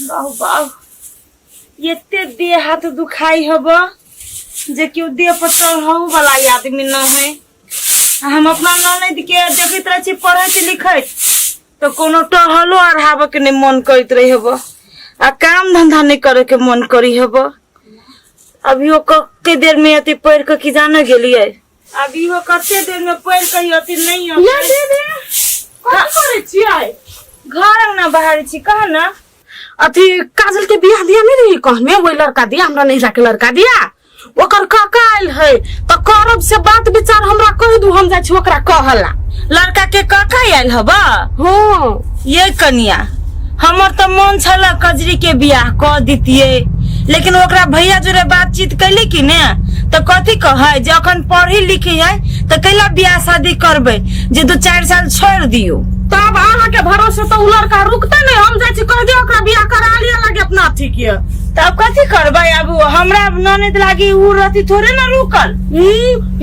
बाहु बाहु एते देह हाथ दुखाई हब जे केओ देह पर चढ़ऊ वाला ई आदमी न है आ हम अपना ननद के देखैत रहे छी पढ़ैत लिखैत तो कोनो टहलो अढ़ाब के नहीं मन करैत रही हब आ काम धंधा नहीं करे के मन करी हब अभी ओ कते देर में अति पढ़ के की जाने गेलिए अब इहो कते देर में पढ़ के ई अथी नहीं हम ये दे दे कथी करे छियै घर अंगना बाहर छी कह ना अथी काजल के बियाह दिया नहीं रही कहने वही लड़का दिया हमरा नहीं जाके लड़का दिया ओकर काका आयल है तो करब से बात विचार हमरा कह दू हम जा छी ओकरा कहला लड़का के काका आयल हबा हाँ ये कनिया हमर तो मन छला कजरी के बियाह क दितिये लेकिन ओकरा भैया जोरे बातचीत कैली कि ने तो कथी कहे जे अखन पढ़ी लिखी है तो कैला बियाह शादी करबे जे दू चार साल छोड़ दियो तब अहाँ के भरोसे तो उ लड़का रुकते नहीं हम जाए छी कह दियो ओकरा बियाह करा लिया लगे अपना अथी के तब कथी करबे अब हमरा ननद लागी उ रहती थोड़े ना रुकल ई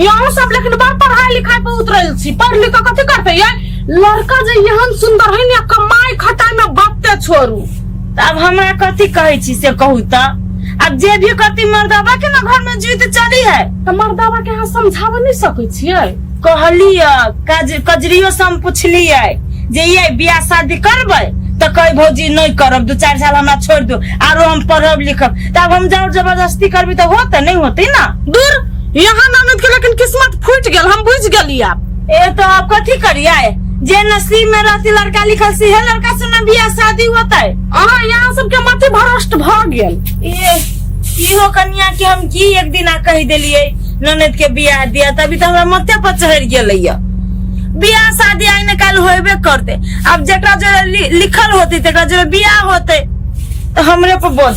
यहाँ सब लेकिन बड़ पढ़ाई लिखाई पे उतरल छी पढ़ लिख के कथी करते ये लड़का जे एहन सुंदर है ने कमाई खटाई में बत्ते छोड़ू तऽ आब हमरा कथी कहै छी से कहू तऽ आब जे भी कथी मर्दबा के ना घर में जीत चली है तऽ मर्दावा के अहाँ समझाबऽ नहि सकै छियै कहलिय कज, कजरियो से हम पुछलियै जे ये बियाह शादी करबै तऽ कही भौजी नहि करब दू चारि साल हमरा छोड़ि दू आरो हम पढ़ब लिखब तऽ आब हम जब जबरदस्ती करबी तऽ होतै नहि होतै ना दूर यहाँ ननद के लेकिन किस्मत फूट गेल हम बुझ गेली आब ए तो अब कथी करिए जे नसीब में रहती लड़का लिखल से है लड़का से ना बियाह शादी होता है अहाँ यहाँ सबके मति भ्रष्ट भ गेल ये इहो कन्या के हम की एक दिन आ कह दिलिए ननद के बियाह दिया तभी तो हमरा मते पर चढ़ गेलै या बियाह शादी आई न काल होबे करते अब जकरा जो लिखल होते तकरा जो बियाह होते तो हमरे पर बोझ